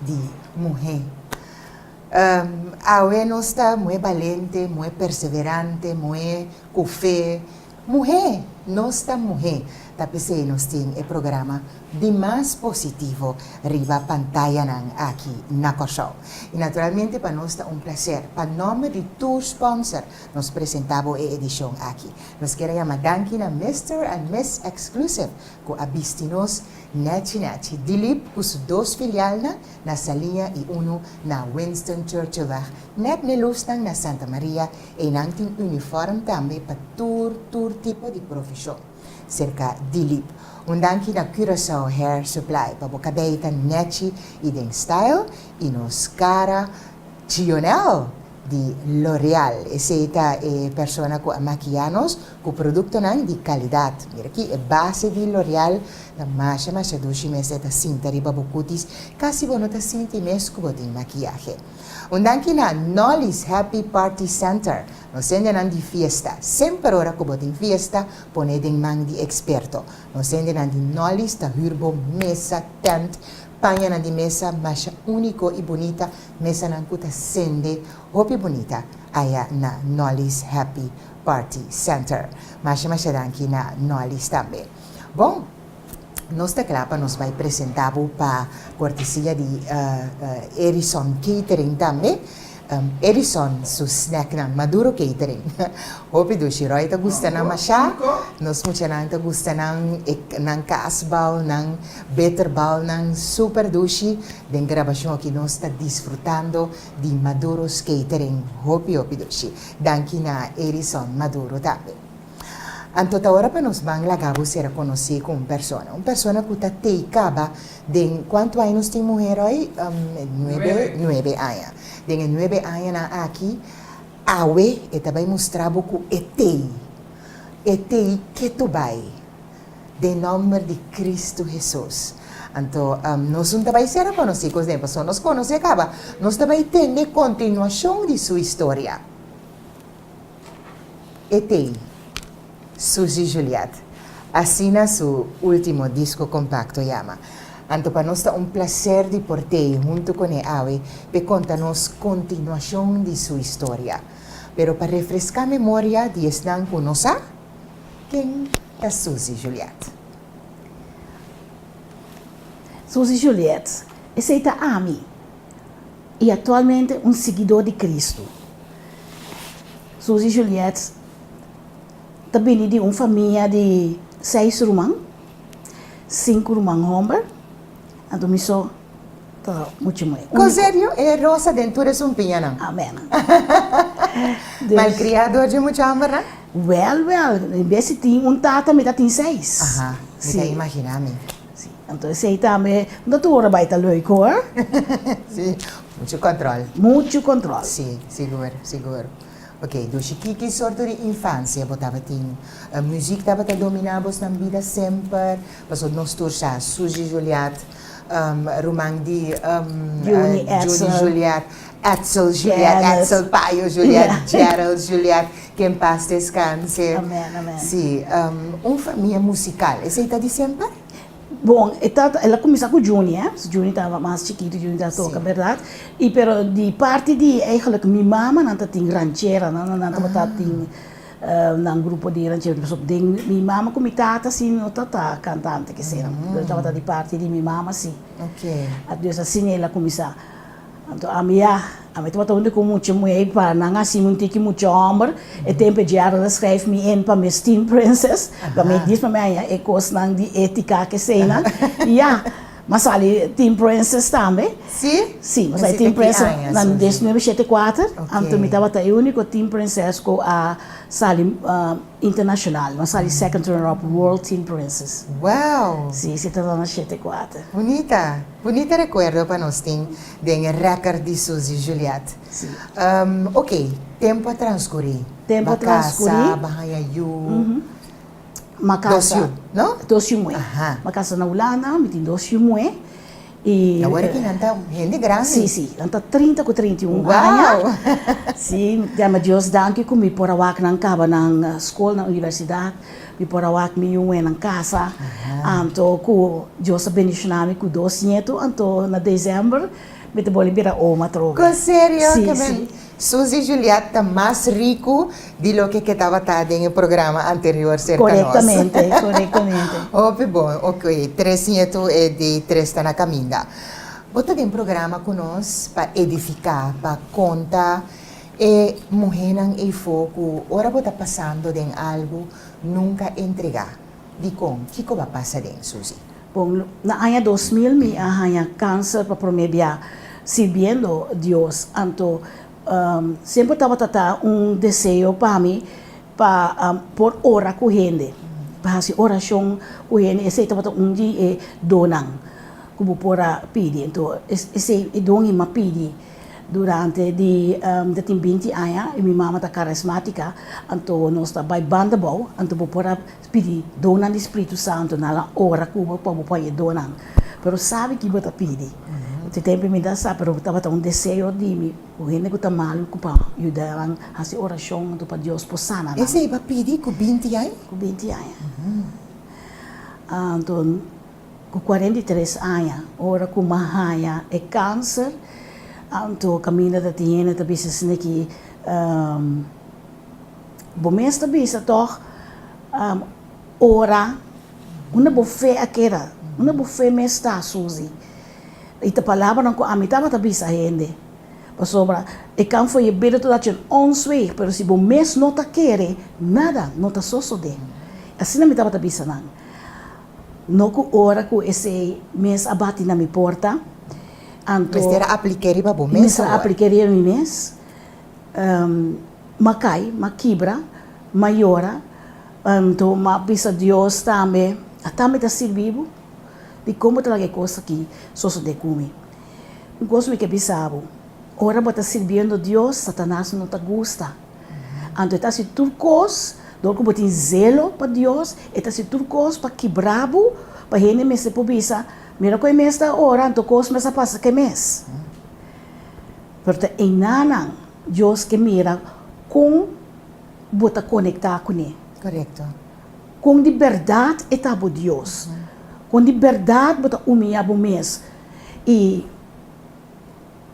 di muhé. Awe nos ta muhé balente, muhé perseverante, muhé ku fe. Muhé! Nos ta muhé! Ta p'esei nos tin e programa di mas positivo riba pantayanan aki na Kòrsou. I naturalmente pa nos ta un plaser pa nòmber di tur sponsor nos presentá bo e edishon aki. Nos ker a yama danki na Mister and Miss Exclusive ku a bisti nos Nechi Nechi, Dilip cu su dos filialnan na Salinha y uno na Winston Churchillweg, net me lusnan na Santa Maria, eynan tin uniform tambe pa tur tur tipo di profesion, serca Dilip. Un danki na Curaçao Hair Supply pa bo cabei ta nechi y den style y nos cara Chionel! di L'Oréal, esei ta e persona ku a makiá nos ku produktonan di kalidat. Mira aki, e base di L'Oréal ta masha masha dushi mester ta sinta riba bo kutis, kasi bo no ta sinti mes ku bo tin makiahe. Un danki na Nolly's Happy Party Center, nos hendenan di fiesta, semper ora ku bo tin fiesta, pone den man di eksperto. Nos hendenan di Nolly's ta hür bo mesa, tènt, pañanan di mesa masha úniko i bunita Mesanan ku ta sende hopi bunita aya na Nolly's Happy Party Center. Masha masha danki na Nolly's tambe. Bon, nos ta kla pa nos bai presenta bo pa kortesia di Edison Catering tambe. Edison su snacknan, Maduro Catering. Hopi dushi. Roy ta gusta nan masha. Nos muchanan ta gusta nan e nan kaasbalnan, bitterbalnan, super dushi. Den grabashon aki nos ta disfrutando di Maduro's Catering hopi hopi dushi. Danki na Edison Maduro tambe. Anto ta ora pa nos ban laga bo sera konosé ku un persona. Un persona ku ta tei kaba den, kuantu aña nos tin muhé Roy? Nuebe. Nuebe aña. Den e nuebe añanan aki, awe e ta bai mustra bo ku e tei. E tei ke tu bai. Den nomber di Cristo Hesus. Anto, nos un ta bai ser a conoci cos den, pasobra nos conoci a caba, nos ta bai tende continuacion di su historia. E tei, Suzy Juliette, asina su ultimo disco compacto yama. Anto pa nos ta un placer di por tei hunto con e awe p'e conta nos continuacion di su historia. Pero pa refresca memoria di esnan cu nos a. Ken ta Suzy Juliet? Suzy Juliet, Esei ta ami, i aktualmente un siguidó di Kristu. Suzy Juliet ta bini di un famia di seis ruman, sinku ruman homber, anto mi so Ta mucha mai úniko. Con serio, e rosa den tur e sumpiñanan. Amén. Dus. Malcriado dje mucha amber, ha? Wèl, wèl. En bes si tin un tata, mi ta tin seis. Aha, mi ta imaginá mi. Sí. Anto esei tambe no ta tur ora bai ta lùik, hoor. Sí, muchu control. Muchu control. Sí, sigur, sigur. Ok, dushi, kiki sorto di infancia bo tabatin? Muziek tabata dominá bosnan bida semper? Paso nos tur sa, Suzy Juliat. ruman di Juni Juliet, Etzel Juliet, Etzel Payo Juliet, Gerald Juliet, ke en pas deskanse. Si, un famia musikal, esei ta di semper? Bon, e ta, el a kuminsá ku Juni, eh, si Juni tabata mas chikitu, Juni ta toka, bèrdat? I pero di parti di, eigelik, mi mamanan ta tin rancheranan, nan tabata tin. Nan grupo di ranchero di pasó den mi mama ku mi tata si no ta ta kantante keseran, pero tabata di parti di mi mama si. Anto es asin el a kuminsá. Anto ami ya, ami tabata un di ku mucha muhé pa nan asina un tiki mucha hòmber. E tempu e djara a skrijf mi in pa mi es Teen Princess, pa mi a disma mi aña e kosnan di étika kesenan. Ya. Ma sali tin Princes tambe. Sí? Sí, pasobra e tin Princes na dieznuebe shete kuater, anto mi tabata e úniko tin Princes ku a sali internashonal. No a sali second runner up World Tin Princes. Wow! Sí, sí tabata na shete kuater. Bunita, bunita rekuerdo pa nos tin den e reker di Susie Juliet. Sí. Oke, tempu a transkurí. Tempu a transkurí. Ba kasa, ba haña yu. Mi dos yu, no? Dos yu muhé. Aha. Mi a kasa na Hulanda, mi tin dos yu muhé i. Awor ki nan ta hende grandi. Sí, sí. Nan ta trinta ku treinta i un aña. Wou! Sí, mi ta djama Dios danki ku mi por a wak nan kaba nan skol, nan universidat. Mi por a wak mi yu muhé nan kasa. Anto ku Dios a bendishoná mi ku dos ñetu, anto na desèmber mi ta boli bira oma atrobe. Ku serio? Sí, sí. Suzy Juliet ta mas riku di loke ke tabata den e programa anterior serka nos. Korektamente, korektamente. Hopi bon, ok, tres nietu e di tres ta na kaminda. Bo ta den programa ku nos pa edifiká, pa konta e muhénan ei fo ku ora bo ta pasando den algu nunka entregá. Dikon? Kiko bo a pasa den, Suzy? Bon, na aña dos mil mi a haña cáncer pa promé bia sirbiendo Dios. Anto siempre tabata ta un deseo pa mi pa por ora cu hende, pa haci oracion cu hende. Esey tabata un di e donnan cu bo por a pidi. Anto esey e don i m'a pidi durante di, mi ta tin binti aña i mi mama ta carismática. Anto nos ta bai banda bao, anto bo por a. Pidi donan di spritu santu na la ora ku bo por bo pon e donan. Pero sabe ki bo ta pidi. Te tempu mi ta sa, pero tabata un deseo di mi ku hende ku ta mal ku pa yuda nan hasi orashon anto pa Dios por sana nan. Esei bo a pidi ku binti aña? Ku binti aña. Anto ku kuarenta i tres aña ora ku mi a haña e kanser, anto kaminda ta tin hende ta bisa esei ki Bo mes ta bisa tòg ora unda bo fe a keda, unda bo fe mes ta, Susi. I ta palabranan ku ami tabata bisa hende. Pasobra e kan for ye bida totdat den ons wei, pero si bo mes no ta kere, nada no ta sosodé. Asina mi tabata bisa nan. No ku ora ku esei mes a bati na mi porta, anto. Mester a aplik'é riba bo mes awor. Mester a aplik'é riba mi mes. m'a cai, m'a kibra, m'a yora, anto m'a bisa Dios tambe, Ata mi ta sirbi bo? Di con bo ta laga e cos aki sosode cu mi? Un cos mi ke bisa bo, ora bo ta sirbiendo Dios, Satanas no ta gusta, anto e ta haci tur cos dor cu bo tin zelo pa Dios, e ta haci tur cos pa kibra bo, pa hende mester por bisa, Mira con e mes ta ora, anto cos mes a pasa con e mes. Pero ta eina nan Dios ke mira kon bo ta konektá kuné. Korekto. Kon di bèrdat e ta bo Dios. Kon di bèrdat bo ta umiá bo mes i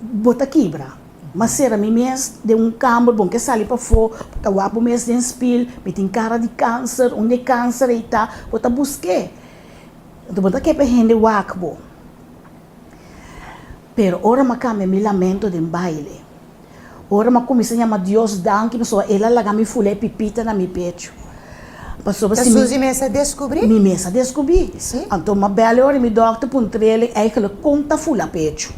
bo ta kibra. M'a sera mi mes den un kamber, bon ke sali pafó, bo ta wak bo mes den spil, mi tin kara di kanser, unda e kanser ei ta? Bo ta busk'é. Bo ta ke pa e hende wak bo. Pero ora m'a cambia mi lamento den baile. Ora m'a cuminsa yama Dios danki pasobra el a laga mi fula e pipita na mi pecho. Pasobra si mi. Ta susi mesa descubri? Mi mesa descubi. Si. Anto m'a bela ora mi dokter puntrele eigenlijk con ta fula pecho.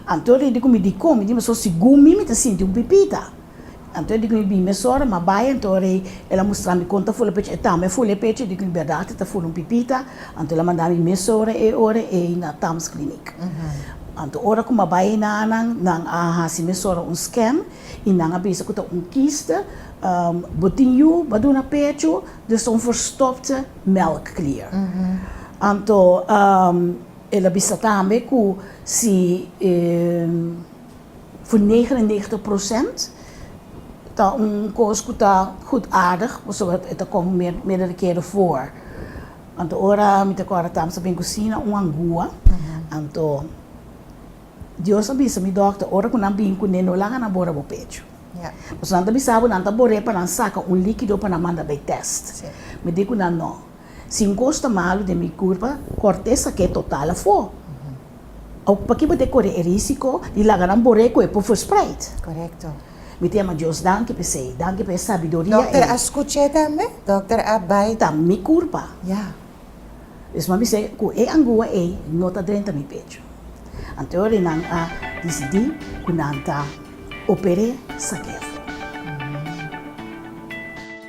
Anto ori di cu mi dicon mi tin pasobra segun mi mi ta sinti un pipita. Anto e di cu mi bin mesora, ma bai, anto rey el a mustra mi con ta fula pechi, e tambe a fula e pechi, e di cu mi berdad ta fula un pipita, anto el a manda mi mesora e ora ey na Tams Clinic. Anto ora cu mi a bai eynan nan, nan a haci mesora un scan y nan a bisa cu ta un kiste, bo tin yu, bo a duna pechu, dus ta un verstopte melkklier. Anto el a bisa tambe cu si. Voor negen en negentig procent ta un kos ku ta gudaardig pasobra e ta kon meerdere kere voor. Anto ora mi ta kòrda tambe sa bin kusí na un angua, anto Dios a bisa mi dòkter ora ku nan bin kuné no laga nan bora bo pechu. Pasobra nan ta bisa bo nan ta bor'é pa nan saka un líkido pa nan manda bai tèst. Mi di ku nan no. Si un cos ta malo den mi curpa, corte saqu'e total afo. Awor, p'aki bo ta core e risico di laga nan bor'e cu e por verspreid? Correcto. Mi ta yama Dios danki p'esey. Danki p'e sabiduria ey. Dokter a scuch'e tambe? Dokter a bay? Ta mi curpa. Ya. Despues mi sey cu e angua ey no ta drenta mi pecho. Anto awor nan a dicidi cu nan ta oper'e saqu'e afo.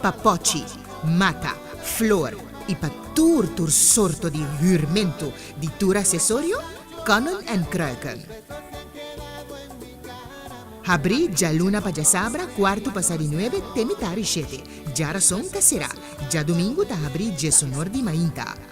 Pa pochi, mata, flor i pa tur tur sorto di hürmentu di tur asesorio, Konnen en Kruiken. Habrí djaluna pa djasabra kuartu pasá di nuebe te mitá di shete. Djarason ta será. Djadumingu ta habrí djesonor di mainta.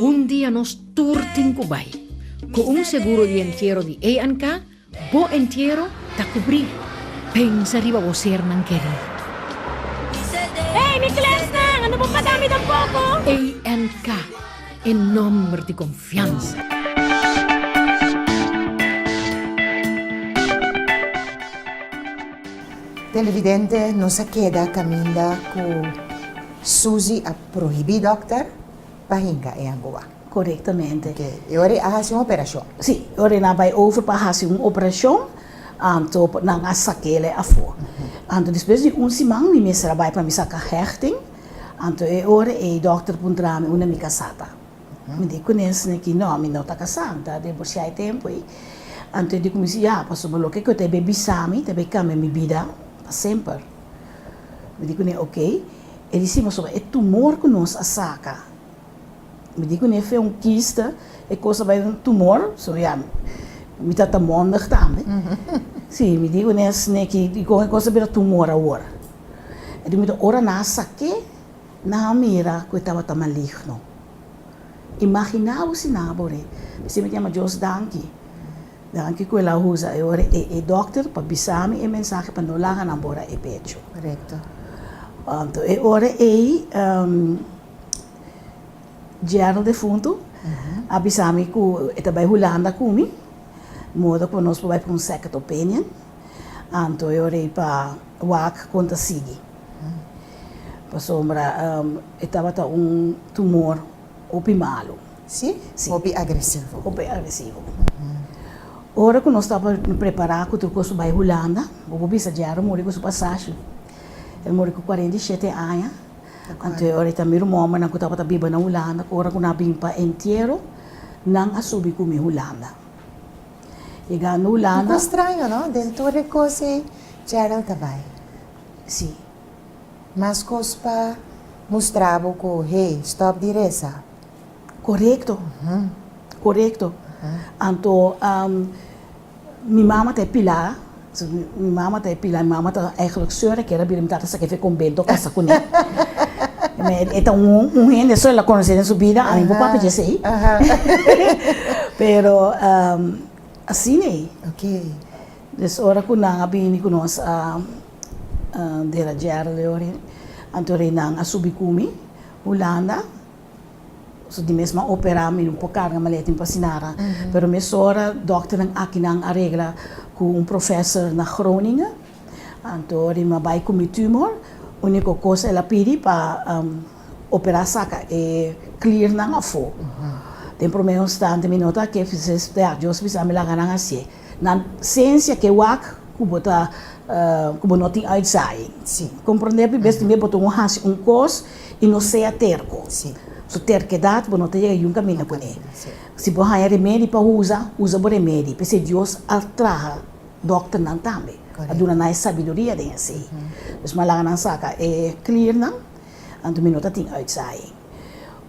Un dia nos tur tin ku bai. Ku un seguro di entiero di ANK, bo entiero ta kubrí. Pensa riba bo sernan kerí. Hey mi klèsnan, ando bo pasa mi tampoko? ANK, e nòmber di konfiansa. Televidente nos a keda kaminda ku Susie a prohibí dòkter pa hinka e angoa. Korektamente. Ke e ora e a hasi un operashon. Sí, e ora nan a bai over pa hasi un operashon, anto nan a sak'e afó. Anto despues di un siman mi mester a bai pa mi saka hechting, anto e ora ei dòkter puntra mi unda mi kasá ta. Mi di ku nesnan aki, No, mi no ta kasá, mi ta divorsiá e tempu ei. Anto e di ku mi si, Ya, pasobra loke ku e ta bai bisa mi ta bai kambia mi bida pa semper. Mi di ku ne, Ok. E di, Si, pasobra e tumor ku nos a saka, mi di ku ne, fe un kista, e kos a bai un tumor, so ya mi ta ta mondig tambe. Si, mi di ku nesnan aki, i kon e kos a bira tumor awor. E di, mi ta ora na sak'é. Nan a mira ku e tabata maligno. Imaginá bo si nan a por e bisa mi ta yama Dios danki. Danki ku el a usa e ora e dòkter pa bisa mi e mensahe pa no laga nan bora e pecho. Anto e ora ei yerno defuntu a bisa mi ku e ta bai Hulanda ku mi modo ku nos por bai pa un second opinion. Anto e ora ei pa wak kon ta sigui. Pasobra e tabata un tumor hopi malu. Si? Si. Hopi agresivo. Hopi agresivo. Ora ku nos tabata prepará ku tur kos pa bai Hulanda, bo por bisa Gerro muri ku su pasashi. E muri ku kuarenta i shete aña. Anterior e ta mi rumonbernan ku tabata biba na Hulanda, ku ora ku nan a bin pa entiero, nan a subi ku mi Hulanda. E gana Hulanda. Poco straño, no? Den tur e cos ey, Gerald ta bay. Sí. Mas cos pa mustra bo cu, hey, stop di reza. Corecto. Corecto. Anto, mi mama ta e pila So mi mi mama ta e pila mi mama ta eigenlijk señora e kere bira mi tata sa ke fe conbento kasa kuné me e ta un un hende so el a conoce den su bida ami bo papia esei pero asine des ora ku nan a bini ku nos a derajiere leo anto rei nan a subi ku mi hulanda Su di mes m'a operá mi no por carga maleta in Pasinara, pero mesora dokternan akinan a regla cu un professor na Groningen, anto Rima bai cu mi tumor, unico cos el a pidi pa operá saca e kliernan afo. Den prome instante mi nota que si es verdjoso bisa mi laga nan hacié. Nan sensia ke wak ku bo ta ku bo no tin uitsaing. Si. Komprondé pi bes tambe bo ta un hasi un kos i no sea terko. Si. Su terkedat bo no ta yega yun kaminda kuné. Si bo haña remedi pa usa, usa bo remedi p'esei Dios a traha dòkternan tambe. A duna nan e sabiduria den esei. Pues m'a laga nan saka e klirnan, anto mi no ta tin uitsaing.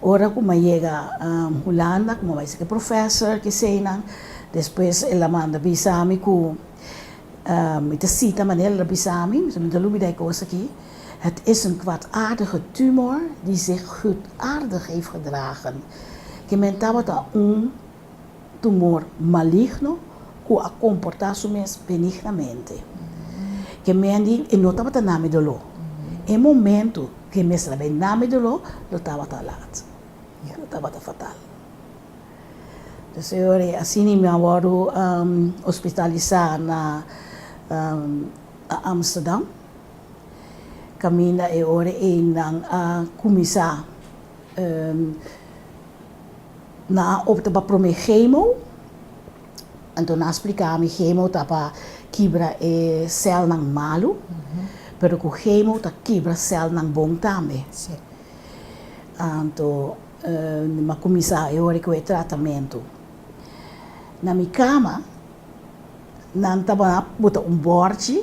Ora ku m'a yega Hulanda, ku m'a bai saki professor keseinan, despues el a manda bisa mi ku mi ta sita manera el a bisa mi, mi ta lubida e kos aki, Het is een kwaadaardige tumor die zich goedaardig heeft gedragen. Ke men tabata un. tumor maligno ku a komportá su mes benignamente. E men di e no tabata na mi doló. E momentu ku e mester a bai na mi doló lo tabata lat. Ya lo tabata fatal. Pues e ora asina mi a wòrdu ospitalisá na Amsterdam. Kaminda e ora ei nan a kuminsá. Nan a opta pa prome chemo, anto nan a spliká mi chemo ta pa kibra e sèlnan malu, pero ku chemo ta kibra sèlnan bon tambe. Anto nan a kuminsá e ora ku e tratamentu. Na mi kama nan tabata bota un bòrchi.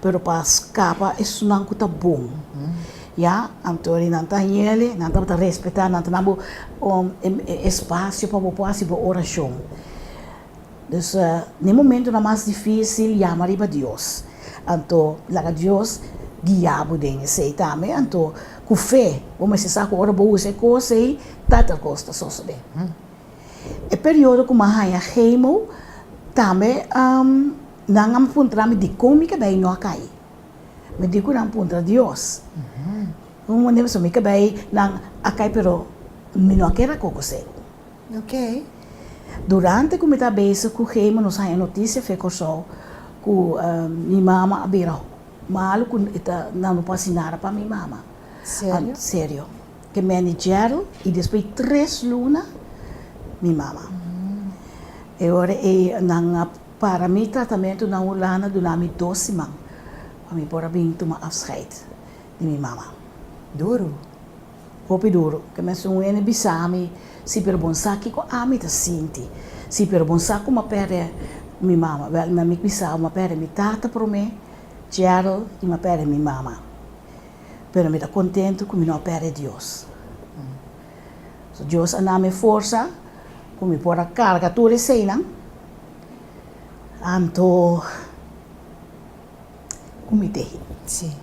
Pero pa scapa esunnan cu ta bon, ya, anto ri nan ta hiele, nan tabata respeta, nan ta nan bo espacio pa bo por haci bo oracion. Dus, n'e momentonan mas dificil, yama riba Dios, anto laga Dios guia bo den esey tambe, anto cu fe bo mester sa cu ora bo usa e cos ey, tal tal cos ta sosode. E periodo cu mi a haya chemo tambe. Nan a puntra mi dikon mi ke bay no a kai. Mi di ku nan puntra Dios. Un mane paso mi ke bay nan a kai pero mi no a keda koko segu. Okay. Durante ku mi ta bezig ku Gema nos haña notisia fe Kòrsou ku mi mama a bira malu ku e ta nan no por hasi nada pa mi mama. Serio? Serio. Ke Manny Gerald i despues tres luna mi mama. E ora ei nan a. Para mi tratamentu na Hulanda duna mi dos siman pa mi por a bin tuma afscheid di mi mama. Duru. Hopi duru. Ke mesun wene bisa mi si pero bon sa kiko ami ta sinti. Si pero bon sa ku m'a pèrdè mi mama. Wèl, mi a mig bisao m'a pèrdè mi tata promé, Gerald, i m'a pèrdè mi mama. Pero mi ta kontentu ku mi no a pèrdè Dios. So Dios a nami e forsa cu mi por a carga tur eseynan, anto cu mi tehi. Si.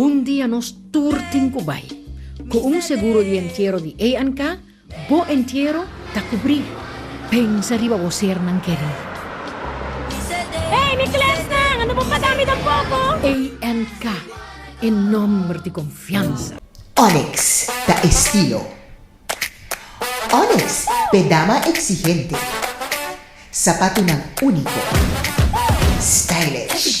Un dia nos tur tin ku bai. Ku un seguro di entiero di ANK, bo entiero ta kubrí. Pensa riba bo sernan kerí. Hey mi klèsnan, a no por pasa mi tampoko! ANK, e nòmber di konfiansa. Onyx ta estilo. Onyx, pedama exigente. Sapatunan único, stylish.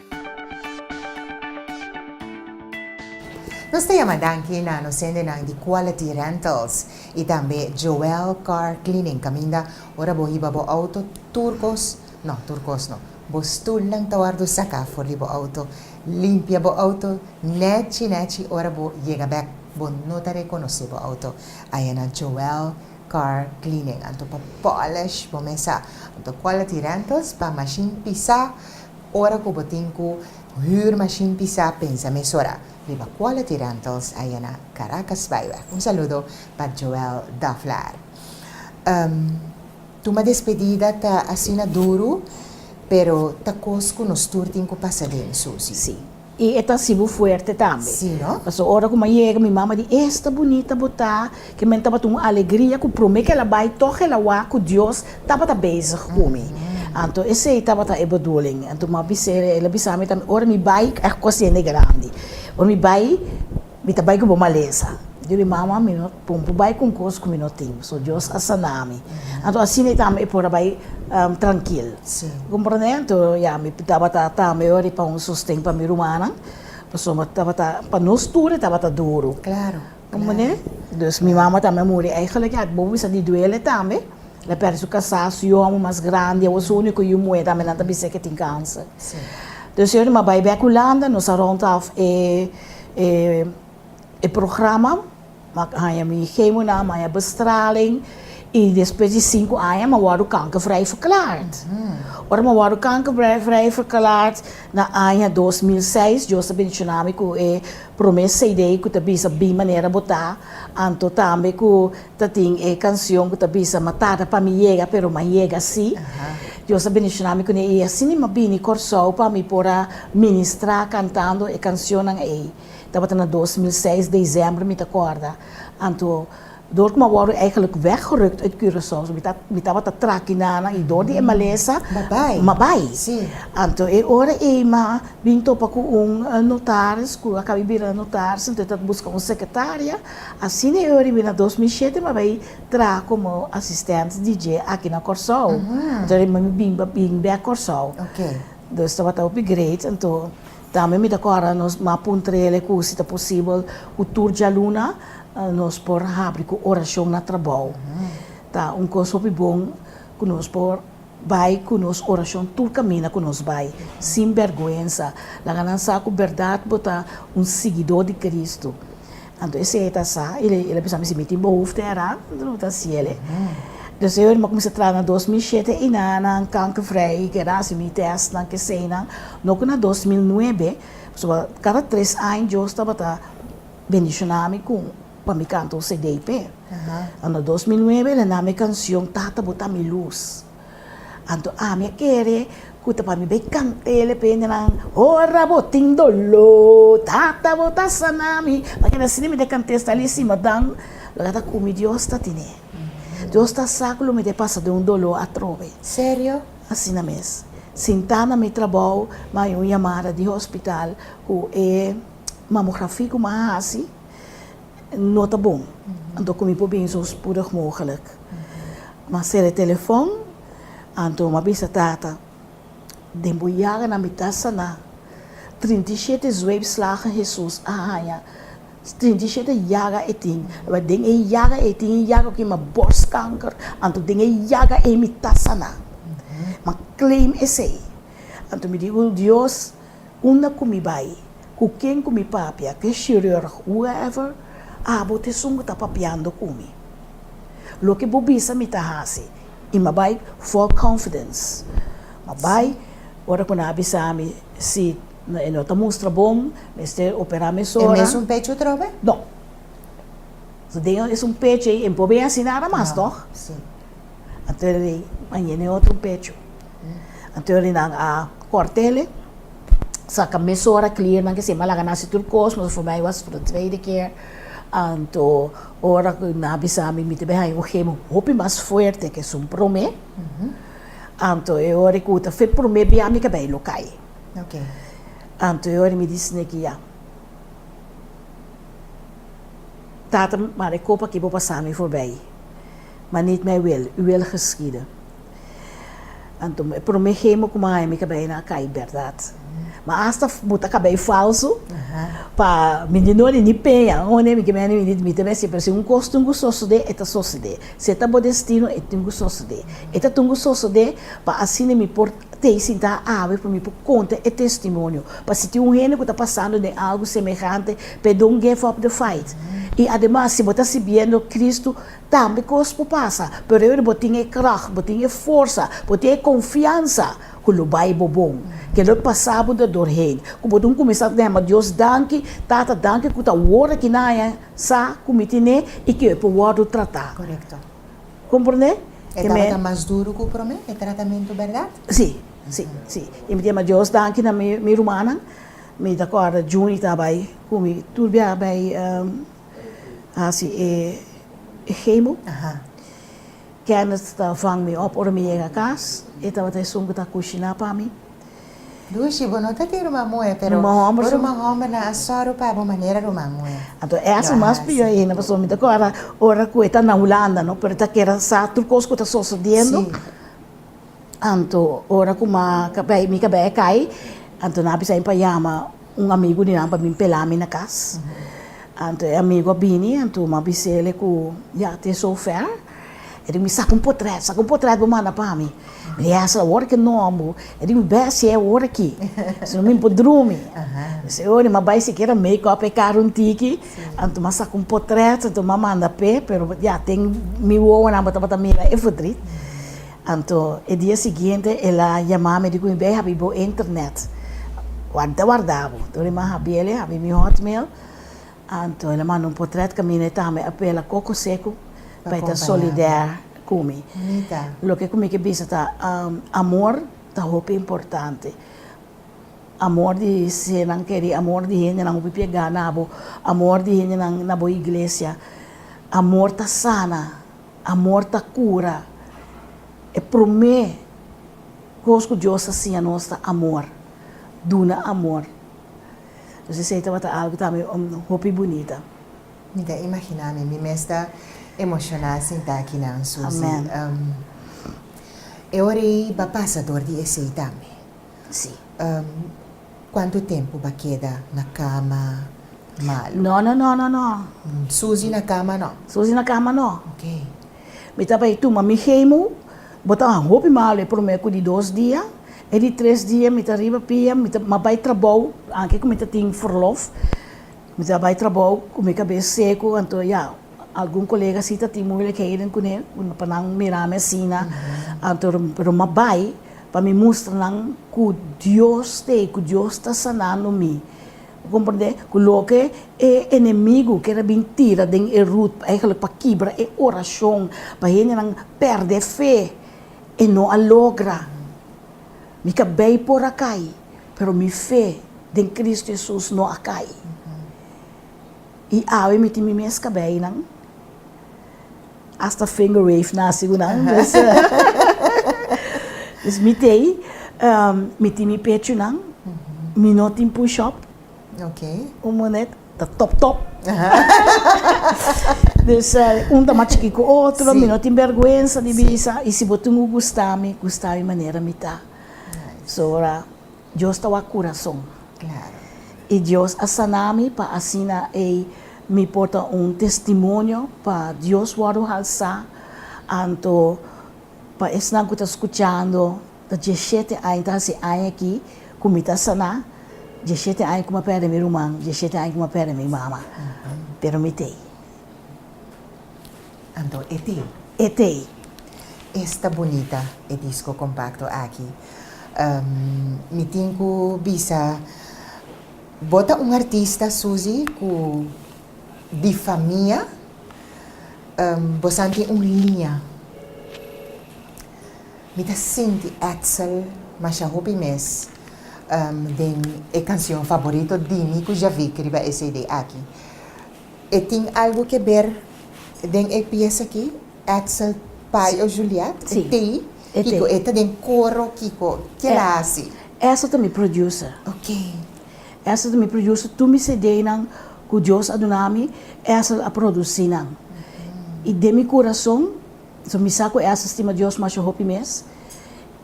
Nos ta yama danki na nos hendenan di Quality Rentals y tambe Joel Car Cleaning caminda ora bo hiba bo auto tur cos, no tur cos no, bo stoelnan ta wordo saca for di bo auto. Limpia bo auto nechi nechi ora bo yega bek bo no ta reconoce bo auto aya na Joel Car Cleaning anto pa polish bo mesa anto Quality Rentals pa machine pisa, Ora cu bo tin cu huur machine pisa pensa mesora riba quality rentals aya na Caracas Byweg. Un saludo pa Joel Daflar. Ehm tuma despedida ta asina duru pero ta cos cu nos tur tin cu pasa den Susie. Si. I e ta hasibo fuerte tambe. Sí no. Paso ora cu mi a yega mi mama di esta bunita bo ta ke men tabata un alegria cu prome ke el a bay tog el a wa cu Dios tabata bezig cu mi. Anto esey tabata e bedoeling. Anto mi a bisa el, el a bisa mi tambe ora mi bay e cos yende grandi. Ora mi bay Mi ta bai ku bo malesa. Yo di, Mama, mi no pon por bai ku un kos ku mi no tin, so Dios a sana mi. Anto asina e tambe e por a bai trankil. Bo komprondé? Anto ya, mi tabata tambe ora di pa un sosten pa mi rumannan, pasobra mi tabata, pa nos tur e tabata duru. Komprondé? Dus mi mama tambe a muri. Eigelijk ya bobo bisa di duele tambe. El a pèrdè su kasá, su yu hòmber mas grandi, awo su úniko yu muhé tambe nan ta bis'é ku e tin kánser. Dus yo di, Ma bai bèk Hulanda, nos a rònt òf e. E programa a haña mi chemonan, a haña bestraling i despues di sinku aña mi a wòrdu kankervrij verklaard. Ora mi a wòrdu kankervrij verklaard na aña dos mil seis, Dios a bendishona mi ku e promé CD ku ta bisa Bin Manera Bo Ta, anto tambe ku Ta tin e cancion cu ta bisa Ma tarda pa mi yega pero m'a yega si. Dios a bendicioná mi cune y asina mi a bini Corsou pa mi por a ministrá cantando e cancionnan ey. Tabata na dos mil seis dezembro mi ta corda. Anto door cu m'a worde eigenlijk weggerukt uit Curaçao so mi ta mi tabata traki nanan y door di e malesa m'a bay. Anto e ora ey m'a bin topa cu un notaris cu a caba bira notaris anto e ta busca un secretaria. Asina e oor riba na dos mil shete m'a bay traha como asistente DJ aki na Corsou. Anto riba mi bin pa bin bek Corsou. Nos tabata hopi great. Anto tambe mi ta cora nos ma puntrele cu si ta posibel cu tur djaluna nos por habri cu oracion na trabou. Ta un cos hopi bon cu nos por Bai ku nos orashon tur kaminda ku nos bai, sin bèrgwensa. Laga nan sa ku bèrdat bo ta un siguidó di Kristu. Anto esei e ta sa i el a bisa mi, Si mi tin behoefte era, lo ta hasiel. Deseo el mi a kuminsá traha na dos mil shete i na nan kankervrij gerasimi tèstnan ku eseinan. No ku na dos mil nuebe, pasobra kada tres aña Dios tabata bendishoná mi ku. Pa mi kanta un CD p'e. Ano dos mil nuebe el a na mi e kanshon Tata bo ta mi lus. Anto ami a kere ku ta pa mi bai kant'e p'e hendenan Ora bo tin doló, Tata bo ta sana mi. Pa keda asina mi ta kant'e sta li sima dan lo ta ku mi Dios ta tine. Dios ta sa ku lo mi ta pasa den un doló atrobe. Serio? Asina mes. Sintá na mi trabou mi a haña un yamada di hospital ku e mamografi ku mi a hasi. no ta bon anto cu mi por bini so spoedig mogelijk. Ma sera e telefon anto m'a bisa tata den bo yaga na mi ta sana trinta i shete zweepslagen Hesus a haña trinta i shete yaga e tin ma den e yaga ei tin e yaga cu yama borstkanker anto den e yaga ei mi ta sana ma claim esey anto mi digo Dios. Unda ku mi bai, ku ken ku mi papia, ku e shirurg, whoever, abo ta esun ku ta papiando ku mi. Loke bo bisa mi ta hasi. I m'a bai full confidence. M'a bai, ora ku nan a bisa mi si e no ta mustra bon, mester operá mesora. E mes un pechi otro be? No. So den e esun pechi ei e no por bin hasi nada mas, tòg? Anto el a di, Mañana e otro un pechi. Anto ri nan a kòrtele, saka mesora klier nan k'esei, malaga nan hasi tur kos, nos a forma e wòs for de tweede keer. Anto ora ku nan a bisa mi, mi ta bihaña un gemo hopi mas fuerte ke esun promé. Anto e ora ku ta fe promé bia mi kabei lo kai. Anto e ora mi di sne ki ya, Tata, mara e kopa aki bo pasa mi forbei, ma nit mei wil, uwil geschieden. Anto e prome hemo ku maña mi kabei nan a kai bèrdat. Ma asta bo ta kabei falsu pa mi di no nini peña hone mi ke mene mi di mi te mester prese. Un kos tin ku sosodé, e ta sosodé. Si e ta bo destino e tin ku sosodé. E ta tin ku sosodé pa asina mi por tei sintá awe pa mi por konta e testimonio. Pa si tin un hende ku ta pasando den algu semehante, perdon, geve up the fight. I ademas si bo ta sirbiendo Kristu. Tambe kos por pasa, pero aver bo tin e krach, bo tin e forsa, bo tin e konfiansa ku lo bai bo bon. Ke lo pasa bo ta dor heen, ku bo ta un kuminsá ta hema Dios danki, Tata danki ku ta wor aki na haña sa ku mi tin e i ku e por wòrdu tratá. Korekto. Komprondé? E tabata mas duru ku promé e tratamentu, bèrdat? Sí, sí, sí. I mi ta hema Dios danki na mi rumannan. Mi ta kòrda Junie ta bai ku mi tur biaha bai hasi e hemo. Kenneth ta vang mi op ora mi yega kas, e tabata esun ku ta kushiná pa mi. Lushi, bo no ta tin ruman muhé, pero bo ruman hòmbernan a sòru pa bo manera ruman muhé. Anto es ta mas piò ainda, pasobra mi ta kòrda ora ku e ta na Hulanda, no, pero e ta kere sa tur kos ku ta sosodiendo. Anto ora ku mi kabé kai, anto nan a bisa mi pa yama. Un amigu di nan pa bin pela mi na kas. Anto e amigu a bini, anto m'a bis'é el ku ya t'es so fèr. E di mi, Saka un potrèt, saka un potrèt bo manda pa mi. Mi di, Yèsa, awor ki nòm bo? E di mi, Bèstia, e awor aki, si no mi por drumi. Mi si, Oe, ni m'a bai sikiera make up e kara un tiki, anto m'a saka un potrèt, anto m'a manda p'e, pero ya ten mi wowonan bo tabata mira e fotrit. Anto e dia siguiente el a yama mi di ku mi bai habi bo internet. Warda warda bo. Tur e man habi el, e habi mi hotmail. Anto el a manda un potret kaminda e tambe a pela koko seku pa e ta solidair ku mi. Loke ku mi ke bisa ta amor ta hopi importante. Amor di sernan keri, amor di hendenan hopi piega na bo, amor di hendenan na bo iglesia. Amor ta sana. Amor ta cura. E prome cos cu Dios ta siña nos ta amor, duna amor. Entonces esey tabata algo tambe hopi bunita. Mi ta imagina mi, mi mes ta emociona sinta aki na Ansusi. E ora ey ba pasa door di esey tambe. Sí. Cuantu tempu b'a keda na cama malu? No, no, no, no, no. Susi na cama no. Susi na cama no. Ok. Mi ta bai tuma mi chemo, bo ta un hopi malu e prome cu di dos dia, e di tres dia mi ta riba pia, mi ta mas bai trabou, anke cu mi ta tin verlof, mi ta bai trabou cu mi cabes secu, anto ya, algun colega si ta tin moeilijkheden cu ne, pa nan mira mi asina, anto, pero m'a bai, Pa mi mustra nan ku Dios ta ei, ku Dios ta sanando mi. Bo komprendé? Ku loke e enemigu kere a bin tira den e rut, eigenlijk pa kibra e orashon, pa hendenan pèrdè fe, e no a logra. Mi ka bei por a kai, pero mi fe den Kristu Hesus no a kai. I awe mi tin mi mes kabei nan. Asta finger wave na asigunan. Dus mi tei, mi tin mi pechunan, mi no tin push up, un munet ta top top. Dus un ta mas chikí ku otro, mi no tin bèrgwensa di bisa, i si bo tin ku gusta mi, gusta mi manera mi ta. So ora. Dios ta wak kurason. I Dios a saná mi pa asina ei mi por ta un testimonio pa Dios wòrdu halsá. Anto pa esnan ku ta skuchando, ta diesshete aña, ta hasi aña aki ku mi ta saná, diesshete aña ku mi a pèrdè mi ruman, diesshete aña ku mi a pèrdè mi mama, pero mi t'ei. Anto e ti. E tei. Esta bunita e disco compacto aki. Mi tin cu bisa bo ta un artista Suzy cu di fa mia bo san tin un liña. Mi ta sinti Edsel masha hopi mes den e cancion favorito di mi cu Javick riba e cd aki. E tin algu ke ber den e piesa aki, Axel Payo Juliet, e tei, kiko e ta den koro kiko, ki'e ta hasi? Axel ta mi producer. Ok. Axel ta mi producer, tur mi CDnan ku Dios a duna mi, Axel a produsi nan. I den mi kurason, so mi sa ku Axel stima Dios masha hopi mes,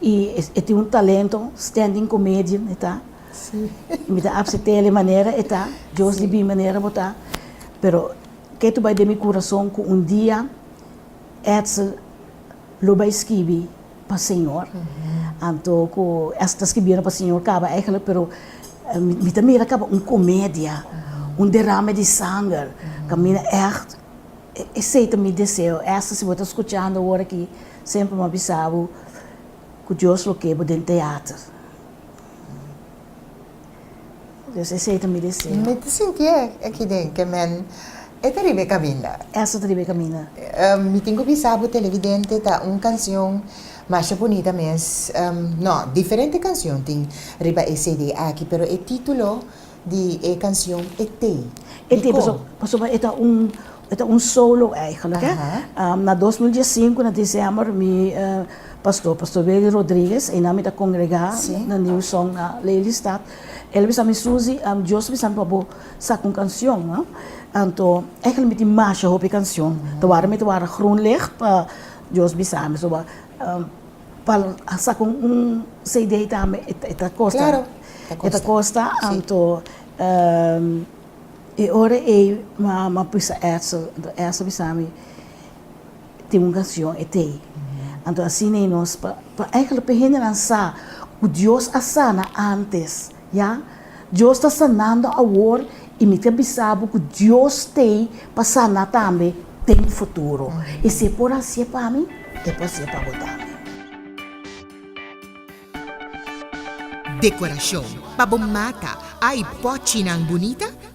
i e tin un talento, standing comedian e ta. Sí, mi ta apsi tele manera e ta, Dios di bin manera bo ta, pero ke tu bai den mi kurason ku un dia Edsel lo bai skibi pa Señor, anto ku Edsel ta skibiendo pa Señor kaba eigenlijk, pero mi ta mira kaba un komedia, un derame di sanger, kaminda ègt esei ta mi deseo. Edsel si bo ta skuchando ora aki, semper mi a bisa bo ku Dios lo ke bo den teater. Dus esei ta mi deseo. Mi ta sintié aki den ke men e ta riba e kaminda. Esa ta riba e kaminda. Mi tin ku bisa bo televidente ta un kansion masha bunita mes, no, diferente kansion tin riba e CD aki, pero e título di e canción Etey. Etey, pasobra, pasobra e ta un, e ta un solo eigenlijk eh. Na dos mil diesinku na december mi pastor, pastor Willy Rodriguez, einan mi ta congrega na New Song na Lelystad, el a bisa mi, Susi, Dios a bisa mi pa bo saca un cancion no, anto eigenlijk mi tin masha hopi cancion, ta ward mi ta word groen licht pa Dios bisa mi, so Pa saka un CD tambe e ta kosta? Klaro, e ta kosta. Anto e ora ei mi a prisa Edsel, anto Edsel a bisa mi, tin un kanshon etei. Anto asina nos, pa, pa, pa hende nan sa ku Dios a sana antes. Ya, Dios ta sanando awor i mi ta bisa bo ku Dios t'ei pa sana tambe den futuro. I si e por hasi'e pa mi, e por hasi'e pa bo tambe. Dekorashon pa bo mata, ai, pòchinan bunita,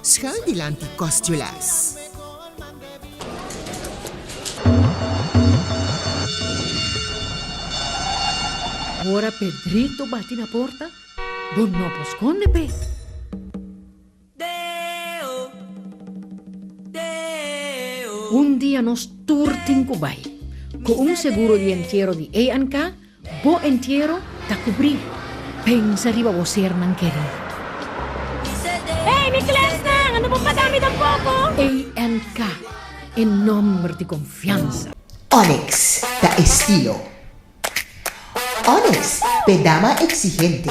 Schuil dilanti kòstulas. Ora Pedrito bati na porta, bo no por skonde p'e. Un dia nos tur tin ku bai. Ku un seguro di entiero di A&K. Bo entiero ta kubrí. Pensa riba bo sernan kerí. Hey mi klèsnan, ando bo pagá mi tampoko. ANK, e nòmber di konfiansa. Onyx ta estilo. Onyx p'e dama eksigente.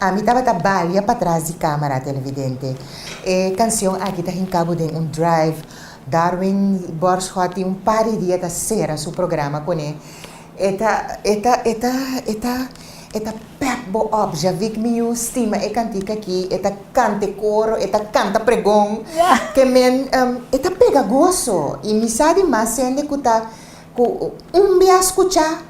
Ami tabata balia patras di camera televidente. E cancion aki ta hincabu den un drive. Darwin Borschoat tin un par di dia ta cera su programa con e. E ta e ta e ta e ta e ta pep bo op Javik miu stima e cantica aki, e ta canta e coro, e ta canta pregon. Te men em e ta pega goso y mi sa di mas sende cu ta cu un bia scucha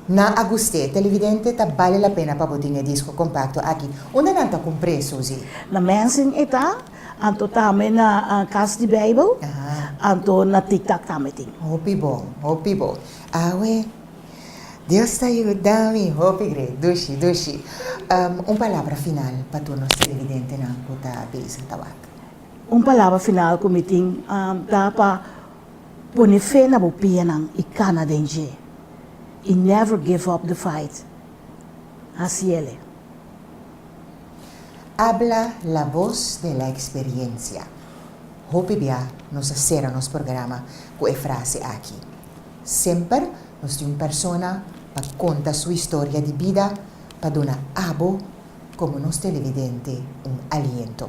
Na a gust'é, televidente, ta bale la pena pa bo tin e disco compacto aki. Unda nan ta cumpr'é, Susie? Na Mensing e ta, anto tambe na Cas di Bijbel, anto na TikTok tambe tin. Hopi bon, hopi bon. Awe, Dios ta yuda mi hopi great, dushi, dushi. Un palabra final pa tur nos televidentenan cu ta bisa tabata. Un palabra final cu mi tin ta pa Pone fe na bo pianan i kana den dje, i never give up the fight. Hasi el e. Habla la voz de la experiencia. Hopi bia nos a sera nos programa ku e frase aki. Semper nos tin un persona pa konta su historia di bida pa duna abo komo nos televidente un aliento.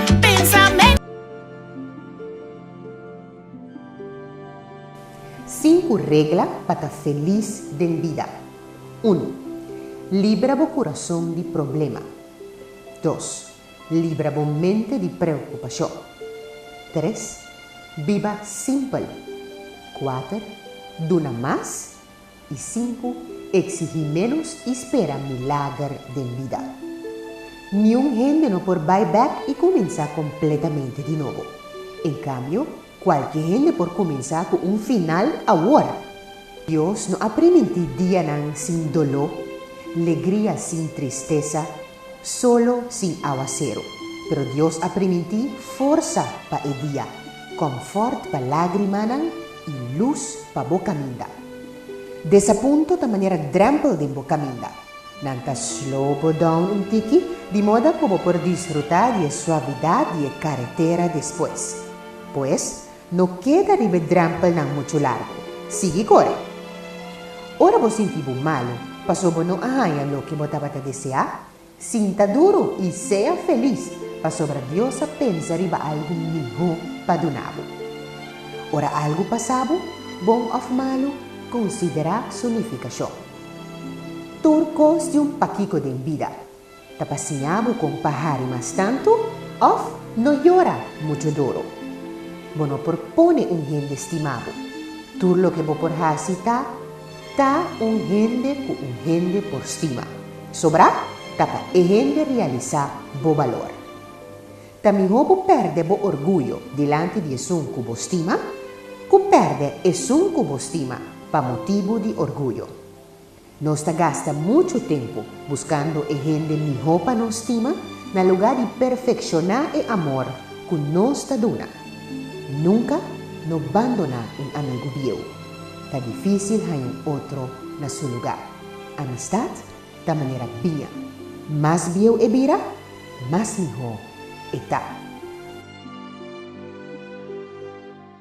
Sinku regla pa ta felis den bida. Unu, Libra bo kurason di problema. Dos, Libra bo mente di preokupashon. Tres, Biba simpel. Kuater, Duna mas, I sinku eksihí ménos i spera milager den bida. Niun hende no por bai bèk i kuminsá kompletamente di nobo. En kambio, kualke hende por kuminsá ku un final awor. Dios no a primintí dianan sin doló, legria sin tristesa, solo sin awaseru, pero Dios a primintí forsa pa e dia, kòmfòrt pa lágrimanan i lus pa bo kaminda. Desapunto ta manera drèmpel den bo kaminda, nan ta sló bo dòun un tiki di moda ku bo por disfrutá di e suavidat di e karetera despues. Pues, No keda riba e drèmpelnan muchu largu. Sigui kore. Ora bo sinti bo malu pasobra bo no a haña loke bo tabata deseá, sinta duru i sea felis pasobra Dios a pensa riba algu mihó pa duna bo. Ora algu pasa bo, bon òf malu, konsiderá su nifikashon. Tur kos di un pakiko den bida. Ta pa siña bo con pa hari mas tanto of no yora mucho doro. Bo no por pone un hende stima bo. Tur loke bo por haci ta ta un hende cu un hende por stima. Sobra ta pa e hende realisa bo balor. Ta miho bo perde bo orguyo dilanti di esun cu bo stima, cu perde esun cu bo stima pa motibu di orguyo. Nos ta gasta muchu tempu buskando e hende mihó pa nos stima na lugá di perfekshoná e amor ku nos ta duna. Nunka no bandoná un amigu bieu. Ta difísil haña un otro na su lugá. Amistat ta manera biña. Mas bieu e bira, mas mihó e ta.